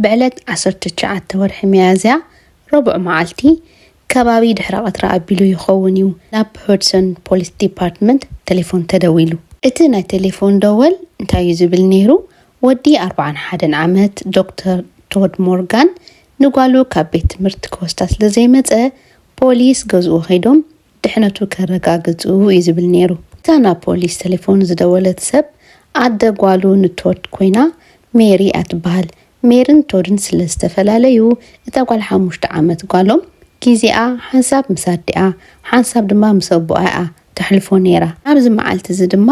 ብዕለት ዓሰርተ ትሽዓተ ወርሒ ሚያዝያ ረቡዕ መዓልቲ ከባቢ ድሕረ ቀትሪ ኣቢሉ ይኸውን እዩ ናብ ሆድሰን ፖሊስ ዲፓርትመንት ተሌፎን ተደዊሉ። እቲ ናይ ተሌፎን ደወል እንታይ እዩ ዝብል ነይሩ፣ ወዲ ኣርብዓን ሓደን ዓመት ዶክተር ቶድ ሞርጋን ንጓሉ ካብ ቤት ትምህርቲ ክወስዳ ስለ ዘይመጸ ፖሊስ ገዝኡ ከይዶም ድሕነቱ ከረጋግጽ እዩ ዝብል ነይሩ። እታ ናብ ፖሊስ ተሌፎን ዝደወለት ሰብ ኣደ ጓሉ ንቶድ ኮይና ሜሪ እያ ትበሃል። ሜርን ቶድን ስለ ዝተፈላለዩ እታ ጓል ሓሙሽተ ዓመት ጓሎም ግዜኣ ሓንሳብ ምስ ኣዲኣ ሓንሳብ ድማ ምስ ኣቦኣ እያ ተሕልፎ ነይራ። ኣብዚ መዓልቲ እዚ ድማ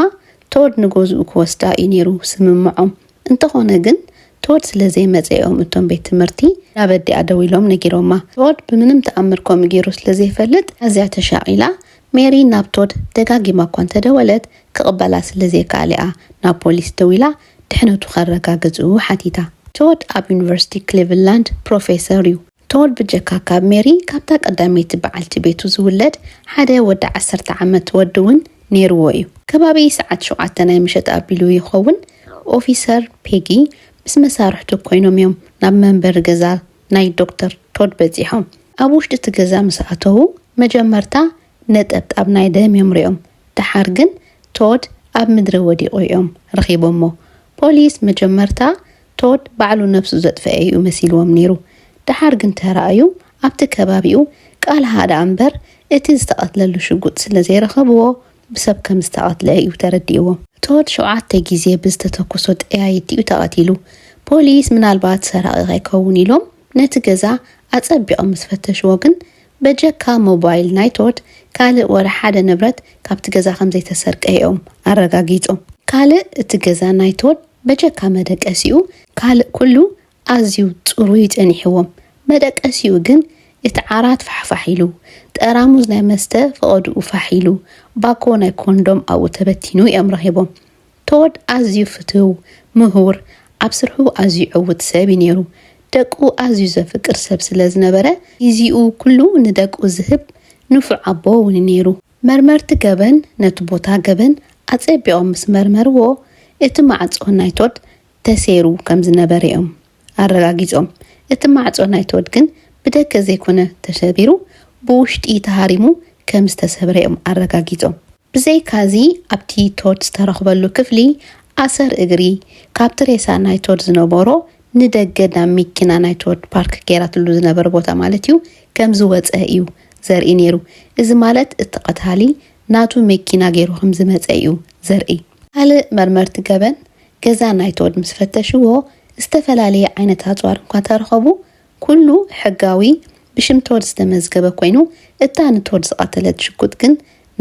ቶድ ንገዝኡ ክወስዳ እዩ ነይሩ ስምምዖም። እንተኾነ ግን ቶድ ስለ ዘይመጸ እዮም እቶም ቤት ትምህርቲ ናብ ኣዲኣ ደዊሎም ነጊሮማ። ቶድ ብምንም ተኣምር ከምኡ ገይሩ ስለ ዘይፈልጥ ኣዝያ ተሻቒላ፣ ሜሪ ናብ ቶድ ደጋጊማ እኳ እንተደወለት ክቕበላ ስለ ዘይከኣለ'ያ ናብ ፖሊስ ደዊላ ድሕነቱ ከረጋግጹ ሓቲታ። ቶድ ኣብ ዩኒቨርሲቲ ክሊቭላንድ ፕሮፌሰር'ዩ። ቶል ብጀካ ካብ ሜሪ ካብታ ቀዳመይቲ በዓልቲ ቤቱ ዝውለድ ሓደ ወዲ ዓሰርተ ዓመት ወዲ እውን ነይርዎ እዩ። ከባቢ ሰዓት ሸውዓተ ናይ ምሸት ኣቢሉ ይኸውን፣ ኦፊሰር ፔጊ ምስ መሳርሕቱ ኰይኖም እዮም ናብ መንበሪ ገዛ ናይ ዶክተር ቶድ በጺሖም። ኣብ ውሽጢ እቲ ገዛ ምስ ኣተዉ መጀመርታ ነጠብጣብ ናይ ደም እዮም ርእዮም፣ ደሓር ግን ቶድ ኣብ ምድሪ ወዲቑ እዮም ረኺቦሞ። ፖሊስ መጀመርታ ቶድ ባዕሉ ነብሱ ዘጥፈኤ እዩ መሲልዎም ነይሩ ደሓር ግን ተራእዩ ኣብቲ ከባቢኡ ቃል ሃደ ኣምበር እቲ ዝተቀትለሉ ሽጉጥ ስለ ዘይረኸብዎ ብሰብ ከም ዝተቀትለ እዩ ተረዲእዎም። ቶድ ሸውዓተ ግዜ ብዝተተኮሶ ጠያይቲ እዩ ተቀቲሉ ፖሊስ ምናልባት ሰራቂ ከይከውን ኢሎም ነቲ ገዛ ኣጸቢቆም ምስ ፈተሽዎ ግን በጀካ ሞባይል ናይ ቶድ ካልእ ወላ ሓደ ንብረት ካብቲ ገዛ ከም ዘይተሰርቀ እኦም ኣረጋጊጾም። ካልእ እቲ ገዛ ናይ ቶድ በጀካ መደቀሲኡ ካልእ ኩሉ ኣዝዩ ጽሩይ ጸኒሕዎም መደቀሲኡ ግን እቲ ዓራት ፋሕፋሕ ኢሉ ጠራሙዝ ናይ መስተ ፈቀድኡ ፋሕ ኢሉ ባኮ ናይ ኮንዶም ኣብኡ ተበቲኑ እዮም ረኺቦም ቶድ ኣዝዩ ፍትው ምሁር ኣብ ስርሑ ኣዝዩ ዕውት ሰብ እዩ ኔሩ ደቁ ኣዝዩ ዘፍቅር ሰብ ስለ ዝነበረ ጊዚኡ ኩሉ ንደቁ ዝህብ ንፉዕ ኣቦ እውን ኔሩ። መርመርቲ ገበን ነቲ ቦታ ገበን ኣጸቢቖም ምስ መርመርዎ፣ እቲ ማዕጾ ናይ ቶድ ተሰይሩ ከም ዝነበረ'ዮም ኣረጋጊጾም። እቲ ማዕጾ ናይ ቶድ ግን ብደገ ዘይኮነ ተሰቢሩ፣ ብውሽጢ ተሃሪሙ ከም ዝተሰብረ'ዮም ኣረጋጊጾም። ብዘይካ'ዚ ኣብቲ ቶድ ዝተረኽበሉ ክፍሊ፣ ኣሰር እግሪ፣ ካብቲ ሬሳ ናይ ቶድ ዝነበሮ ንደገ ናብ ሚኪና ናይቲ ወድ ፓርክ ገይራትሉ ዝነበረ ቦታ ማለት እዩ ከም ዝወጸ እዩ ዘርኢ ነይሩ። እዚ ማለት እቲ ቀታሊ ናቱ መኪና ገይሩ ከም ዝመጸ እዩ ዘርኢ። ካልእ መርመርቲ ገበን ገዛ ናይቲ ወድ ምስ ፈተሽዎ ዝተፈላለየ ዓይነት ኣጽዋር እኳ እንተረኸቡ ኩሉ ሕጋዊ ብሽም እቲ ወድ ዝተመዝገበ ኮይኑ እታ ንቲ ወድ ዝቐተለት ሽጉጥ ግን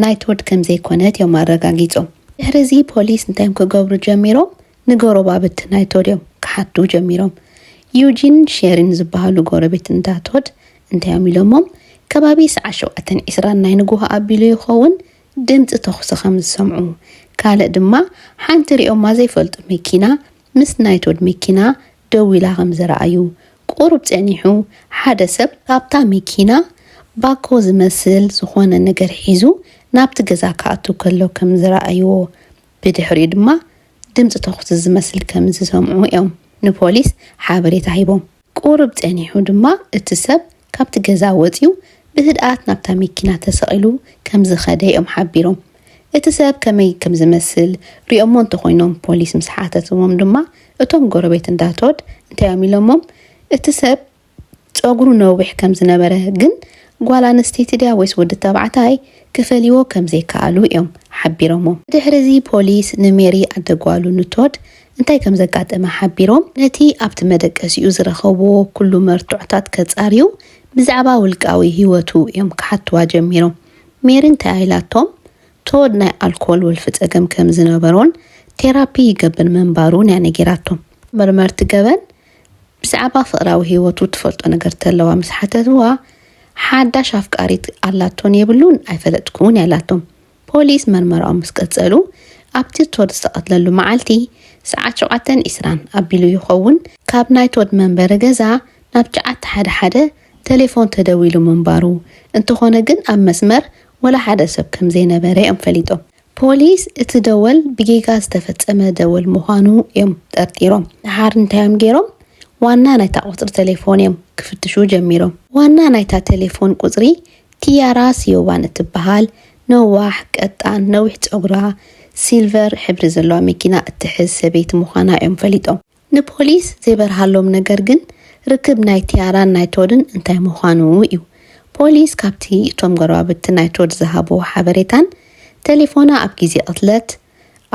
ናይቲ ወድ ከም ዘይኮነት እዮም ኣረጋጊጾም። ድሕሪ እዚ ፖሊስ እንታይ እዮም ክገብሩ ጀሚሮም ንጎረባብቲ ናይ ቶድ እዮም ክሓቱ ጀሚሮም። ዩጂንን ሼሪን ዝበሃሉ ጎረቤት እንዳ ቶድ እንታይ'ዮም ኢሎሞም፣ ከባቢ ሰዓት ሸውዓተን ዒስራን ናይ ንግሆ ኣቢሉ ይኸውን ድምጺ ተኹሲ ከም ዝሰምዑ፣ ካልእ ድማ ሓንቲ ሪኦማ ዘይፈልጡ መኪና ምስ ናይ ቶድ መኪና ደው ኢላ ከም ዝረኣዩ፣ ቁሩብ ጸኒሑ ሓደ ሰብ ካብታ መኪና ባኮ ዝመስል ዝኾነ ነገር ሒዙ ናብቲ ገዛ ክኣቱ ከሎ ከም ዝረኣይዎ ብድሕሪኡ ድማ ድምጺ ተዅሲ ዝመስል ከም ዝሰምዑ እዮም ንፖሊስ ሓበሬታ ሂቦም። ቁሩብ ጸኒሑ ድማ እቲ ሰብ ካብቲ ገዛ ወጺኡ ብህድኣት ናብታ መኪና ተሰቒሉ ከም ዝኸደ እዮም ሓቢሮም። እቲ ሰብ ከመይ ከም ዝመስል ሪኦሞ እንተዀይኖም ፖሊስ ምስ ሓተትዎም ድማ እቶም ጎረቤት እንዳ ቶድ እንታይ እዮም ኢሎሞም እቲ ሰብ ጸጉሩ ነዊሕ ከም ዝነበረ ግን ጓል ኣንስተይቲ ድያ ወይስ ወዲ ተባዕታይ ክፈልይዎ ከም ዘይከኣሉ እዮም ሓቢሮሞ። ብድሕሪ'ዚ ፖሊስ ንሜሪ ኣደ ጓሉ ንቶድ እንታይ ከም ዘጋጠመ ሓቢሮም ነቲ ኣብቲ መደቀሲኡ ዝረኸብዎ ኩሉ መርትዖታት ከጻርዩ ብዛዕባ ውልቃዊ ህይወቱ እዮም ክሓትዋ ጀሚሮም። ሜሪ እንታይ ኢላቶም ቶድ ናይ ኣልኮል ወልፊ ጸገም ከም ዝነበሮን ቴራፒ ይገብር ምንባሩን እያ ነጊራቶም። መርመርቲ ገበን ብዛዕባ ፍቕራዊ ህይወቱ ትፈልጦ ነገር እንተለዋ ምስ ሓተትዋ፣ ሓዳሽ ኣፍቃሪት ኣላቶን የብሉን ኣይፈለጥኩን እያ ኢላቶም። ፖሊስ መርመራኦም ምስ ቀጸሉ፣ ኣብቲ ቶድ ዝተቐትለሉ መዓልቲ ሰዓት ሸውዓተን ዒስራን ኣቢሉ ይኸውን ካብ ናይ ቶድ መንበሪ ገዛ ናብ ጨዓት ሓደ ሓደ ተሌፎን ተደዊሉ ምንባሩ፣ እንተኾነ ግን ኣብ መስመር ወላ ሓደ ሰብ ከምዘይነበረ እዮም ፈሊጦም። ፖሊስ እቲ ደወል ብጌጋ ዝተፈጸመ ደወል ምዃኑ እዮም ጠርጢሮም። ደሓር እንታዮም ገይሮም? ዋና ናይታ ቁጽሪ ተሌፎን እዮም ክፍትሹ ጀሚሮም። ዋና ናይታ ተሌፎን ቁጽሪ ቲያራ ሲዮባን እትበሃል ነዋሕ፣ ቀጣን፣ ነዊሕ ጸጉራ ሲልቨር ሕብሪ ዘለዋ መኪና እትሕዝ ሰበይቲ ምዃና እዮም ፈሊጦም። ንፖሊስ ዘይበርሃሎም ነገር ግን ርክብ ናይ ቲያራን ናይ ቶድን እንታይ ምዃኑ እዩ። ፖሊስ ካብቲ እቶም ጎረባብቲ ናይ ቶድ ዝሃብዎ ሓበሬታን ተሌፎና ኣብ ግዜ ቅትለት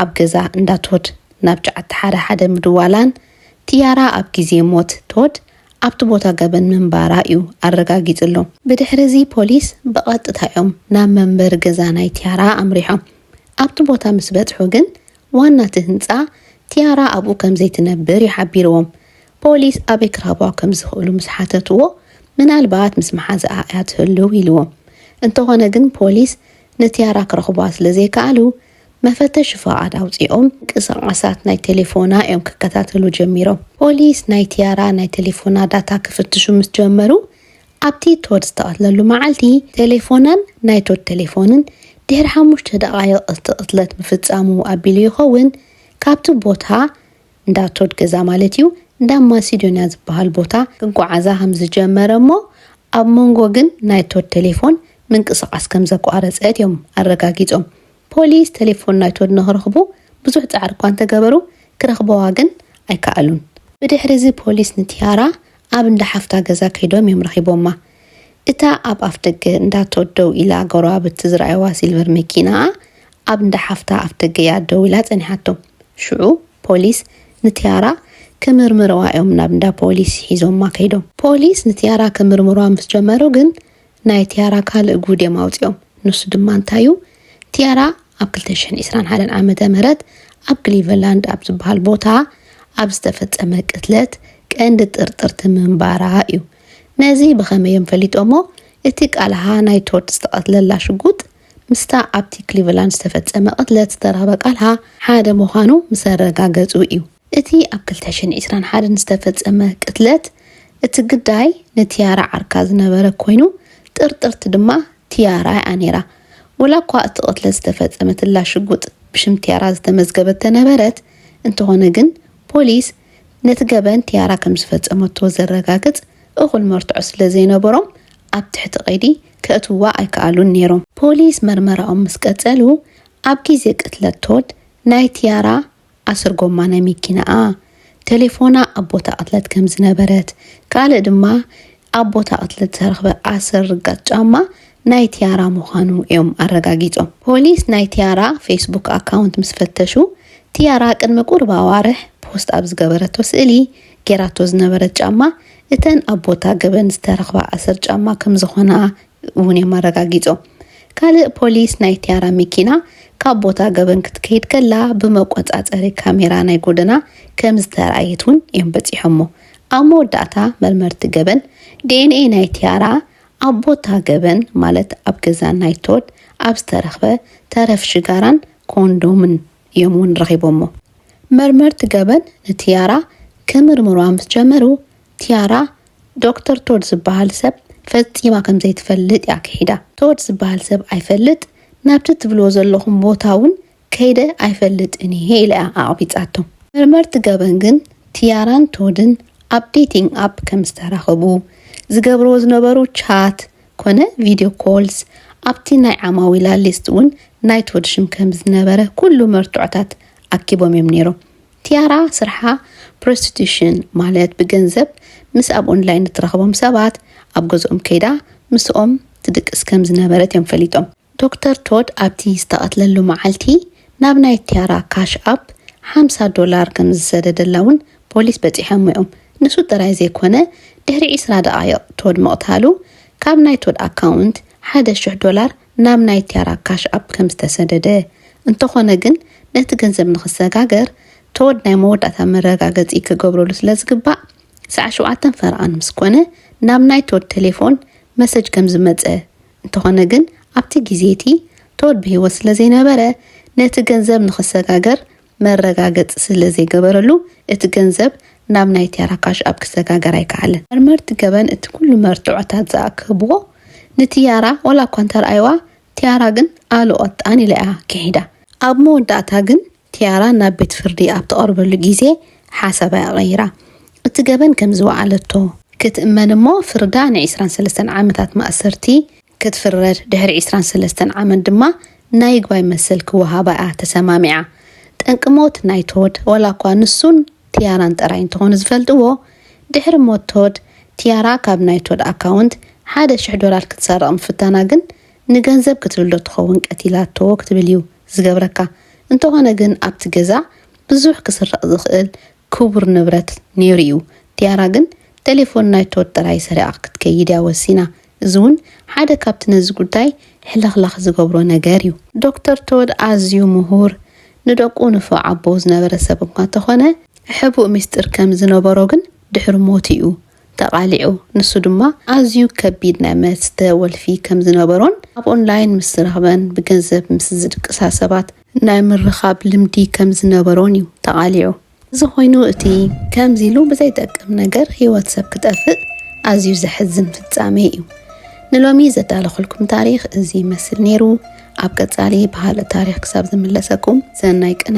ኣብ ገዛ እንዳ ቶድ ናብ ጫዓቲ ሓደ ሓደ ምድዋላን ቲያራ ኣብ ግዜ ሞት ቶድ ኣብቲ ቦታ ገበን ምንባራ እዩ ኣረጋጊጽሎ። ብድሕሪ'ዚ ፖሊስ ብቐጥታ እዮም ናብ መንበሪ ገዛ ናይ ቲያራ ኣምሪሖም። ኣብቲ ቦታ ምስ በጽሑ ግን ዋና እቲ ህንጻ፣ ቲያራ ኣብኡ ከም ዘይትነብር እዩ ሓቢርዎም። ፖሊስ ኣበይ ክረኽብዋ ከም ዝኽእሉ ምስ ሓተትዎ፣ ምናልባት ምስ መሓዝኣ እያ ትህልው ኢልዎም። እንተዀነ ግን ፖሊስ ንቲያራ ክረኽብዋ ስለ ዘይከኣሉ፣ መፈተሺ ፍቓድ ኣውጺኦም ምንቅስቓሳት ናይ ቴሌፎና እዮም ክከታተሉ ጀሚሮም። ፖሊስ ናይ ቲያራ ናይ ቴሌፎና ዳታ ክፍትሹ ምስ ጀመሩ፣ ኣብቲ ቶድ ዝተቐትለሉ መዓልቲ፣ ቴሌፎናን ናይ ቶድ ቴሌፎንን ድሕሪ ሓሙሽተ ደቓይቕ እቲ ቅትለት ምፍጻሙ ኣቢሉ ይኸውን፣ ካብቲ ቦታ፣ እንዳ ቶድ ገዛ ማለት'ዩ፣ እንዳ ማሲዶንያ ዝበሃል ቦታ ክጓዓዛ ከም ዝጀመረ እሞ ኣብ መንጎ ግን ናይ ቶድ ቴሌፎን ምንቅስቓስ ከም ዘቋረጸት እዮም ኣረጋጊጾም። ፖሊስ ቴሌፎን ናይ ቶድ ንኽረኽቡ ብዙሕ ጻዕሪ እኳ እንተ ገበሩ፣ ክረኽበዋ ግን ኣይከኣሉን። ብድሕሪዚ ፖሊስ ንቲያራ ኣብ እንዳ ሓፍታ ገዛ ከይዶም እዮም ረኺቦማ። እታ ኣብ ኣፍደገ እንዳ ቶድ ደው ኢላ ጎረባብቲ ዝረኣዩዋ ሲልቨር መኪናኣ ኣብ እንዳ ሓፍታ ኣፍደገ እያ ደው ኢላ ጸኒሓቶም። ሽዑ ፖሊስ ንቲያራ ክምርምርዋ እዮም ናብ እንዳ ፖሊስ ሒዞማ ከይዶም። ፖሊስ ንቲያራ ክምርምርዋ ምስ ጀመሩ ግን ናይ ቲያራ ካልእ ጉድ እዮም ኣውጺኦም ንሱ ድማ እንታይ እዩ ቲያራ ኣብ ክልተ ሽሕን ዒስራን ሓደን ዓመተ ምህረት ኣብ ክሊቨላንድ ኣብ ዝበሃል ቦታ ኣብ ዝተፈጸመ ቅትለት ቀንዲ ጥርጥርቲ ምንባራ እዩ ነዚ ብኸመይ እዮም ፈሊጦሞ እቲ ቃልሃ ናይ ቶድ ዝተቐትለላ ሽጉጥ ምስታ ኣብቲ ክሊቨላንድ ዝተፈጸመ ቅትለት ዝተረኽበ ቃልሃ ሓደ ምዃኑ ምስ ኣረጋገጹ እዩ። እቲ ኣብ ክልተ ሽሕን ዒስራን ሓደን ዝተፈጸመ ቅትለት፣ እቲ ግዳይ ንቲያራ ዓርካ ዝነበረ ኮይኑ፣ ጥርጥርቲ ድማ ቲያራ'ያ ነይራ። ወላ'ኳ እቲ ቅትለት ዝተፈጸመትላ ሽጉጥ ብሽም ቲያራ ዝተመዝገበት ተነበረት፣ እንተኾነ ግን ፖሊስ ነቲ ገበን ቲያራ ከምዝፈጸመቶ ዘረጋግጽ እኹል መርትዖ ስለዘይነበሮም ኣብ ትሕቲ ቀይዲ ከእትውዋ ኣይከኣሉን ነይሮም። ፖሊስ መርመራኦም ምስ ቀጸሉ፣ ኣብ ግዜ ቅትለት ቶድ ናይ ቲያራ ኣስርጎማ ናይ ሚኪናኣ ተሌፎና ኣብ ቦታ ቅትለት ከም ዝነበረት ካልእ ድማ ኣብ ቦታ ቅትለት ዝተረኽበ ኣስር ርጋጽ ጫማ ናይ ቲያራ ምዃኑ እዮም ኣረጋጊጾም። ፖሊስ ናይ ቲያራ ፌስቡክ ኣካውንት ምስ ፈተሹ ቲያራ ቅድሚ ቁሩብ ኣዋርሕ ፖስት ኣብ ዝገበረቶ ስእሊ ጌራቶ ዝነበረት ጫማ እተን ኣብ ቦታ ገበን ዝተረኽባ ኣስር ጫማ ከም ዝኾና እውን እዮም ኣረጋጊፆም። ካልእ ፖሊስ ናይ ቲያራ መኪና ካብ ቦታ ገበን ክትከይድ ከላ ብመቆፃፀሪ ካሜራ ናይ ጎደና ከምዝተርኣየት እውን እዮም በፂሖሞ። ኣብ መወዳእታ መርመርቲ ገበን ዲኤንኤ ናይ ቲያራ ኣብ ቦታ ገበን ማለት ኣብ ገዛ ናይ ቶድ ኣብ ዝተረኽበ ተረፍ ሽጋራን ኮንዶምን እዮም እውን ረኺቦሞ። መርመርቲ ገበን ንቲያራ ክምርምሩዋ ምስ ጀመሩ ኪያራ፣ ዶክተር ቶድ ዝበሃል ሰብ ፈጺማ ከም ዘይትፈልጥ እያ ክሒዳ። ቶድ ዝበሃል ሰብ ኣይፈልጥ፣ ናብቲ ትብልዎ ዘለኹም ቦታ እውን ከይደ ኣይፈልጥን እየ ኢላ እያ ኣቕቢጻቶ። መርመርቲ ገበን ግን ቲያራን ቶድን ኣብ ዴቲንግ ኣፕ ከም ዝተራኸቡ፣ ዝገብርዎ ዝነበሩ ቻት ኰነ ቪድዮ ኮልስ፣ ኣብቲ ናይ ዓማዊላ ሊስት እውን ናይ ቶድ ሽም ከም ዝነበረ ኵሉ መርትዖታት ኣኪቦም እዮም ነይሮም። ቲያራ ስርሓ ፕሮስቲቱሽን ማለት ብገንዘብ ምስ ኣብ ኦንላይን እትረኽቦም ሰባት ኣብ ገዝኦም ከይዳ ምስኦም ትድቅስ ከም ዝነበረት እዮም ፈሊጦም። ዶክተር ቶድ ኣብቲ ዝተቐትለሉ መዓልቲ ናብ ናይ ቲያራ ካሽ ኣፕ ሓምሳ ዶላር ከም ዝሰደደላ እውን ፖሊስ በጺሖሞ እዮም። ንሱ ጥራይ ዘይኮነ ድሕሪ ዕስራ ደቓይቕ ቶድ ምቕታሉ ካብ ናይ ቶድ ኣካውንት ሓደ ሽሕ ዶላር ናብ ናይ ቲያራ ካሽ ኣፕ ከም ዝተሰደደ፣ እንተኾነ ግን ነቲ ገንዘብ ንክሰጋገር ቶድ ናይ መወዳእታ መረጋገጺ ክገብረሉ ስለ ዝግባእ ሰዓት ሸውዓተን ፈረቓን ምስ ኮነ ናብ ናይ ቶድ ተሌፎን መሰጅ ከም ዝመጸ እንተኾነ ግን ኣብቲ ግዜ'ቲ ቶድ ብህይወት ስለ ዘይነበረ ነቲ ገንዘብ ንክሰጋገር መረጋገፂ ስለዘይገበረሉ እቲ ገንዘብ ናብ ናይ ቴራ ካሽ ኣፕ ክሰጋገር ኣይከኣለን። መርመርቲ ገበን እቲ ኩሉ መርትዖታት ዝኣከብዎ ንቲያራ ዋላ እኳ እንተርኣይዋ ቲያራ ግን ኣሉ ቐጣን ኢላ እያ ኪሒዳ። ኣብ መወዳእታ ግን ቲያራ ናብ ቤት ፍርዲ ኣብ ትቐርበሉ ጊዜ ሓሳባ እያ ቐይራ እቲ ገበን ከምዝወዓለቶ፣ ክትእመን እሞ ፍርዳ ንዒስራን ሰለስተን ዓመታት ማእሰርቲ ክትፍረድ ድሕሪ ዕስራን ሰለስተን ዓመት ድማ ናይ ይግባይ መሰል ክወሃባ'ያ ተሰማሚዓ። ጠንቂ ሞት ናይ ቶድ፣ ዋላኳ ንሱን ቲያራን ጥራይ እንተኾኑ ዝፈልጥዎ፣ ድሕሪ ሞት ቶድ፣ ቲያራ ካብ ናይ ቶድ ኣካውንት ሓደ ሽሕ ዶላር ክትሰርቕ ምፍታና ግን ንገንዘብ ክትብል'ዶ ትኸውን ቀቲላቶ ክትብል'ዩ ዝገብረካ። እንተኾነ ግን ኣብቲ ገዛ ብዙሕ ክስረቕ ዝኽእል ክቡር ንብረት ነይሩ እዩ ቲያራ ግን ተሌፎን ናይቶ ወጠራይ ሰሪቓ ክትከይድ እያ ወሲና እዚ እውን ሓደ ካብቲ ነዚ ጉዳይ ሕልኽላኽ ዝገብሮ ነገር እዩ። ዶክተር ቶድ ኣዝዩ ምሁር፣ ንደቁ ንፉዕ ኣቦ ዝነበረ ሰብ እኳ እንተኾነ፣ ሕቡእ ሚስጢር ከም ዝነበሮ ግን ድሕሪ ሞቱ እዩ ተቓሊዑ። ንሱ ድማ ኣዝዩ ከቢድ ናይ መስተ ወልፊ ከም ዝነበሮን ኣብ ኦንላይን ምስ ዝረኽበን ብገንዘብ ምስ ዝድቅሳ ሰባት ናይ ምርኻብ ልምዲ ከም ዝነበሮን እዩ ተቓሊዑ። እዚ ኮይኑ እቲ። ከምዚ ኢሉ ብዘይጠቅም ነገር ህይወት ሰብ ክጠፍእ ኣዝዩ ዘሕዝን ፍጻሜ እዩ። ንሎሚ ዘዳለኹልኩም ታሪኽ እዚ ይመስል ነይሩ። ኣብ ቀጻሊ ባህሊ ታሪኽ ክሳብ ዝምለሰኩም ሰናይ ቅነ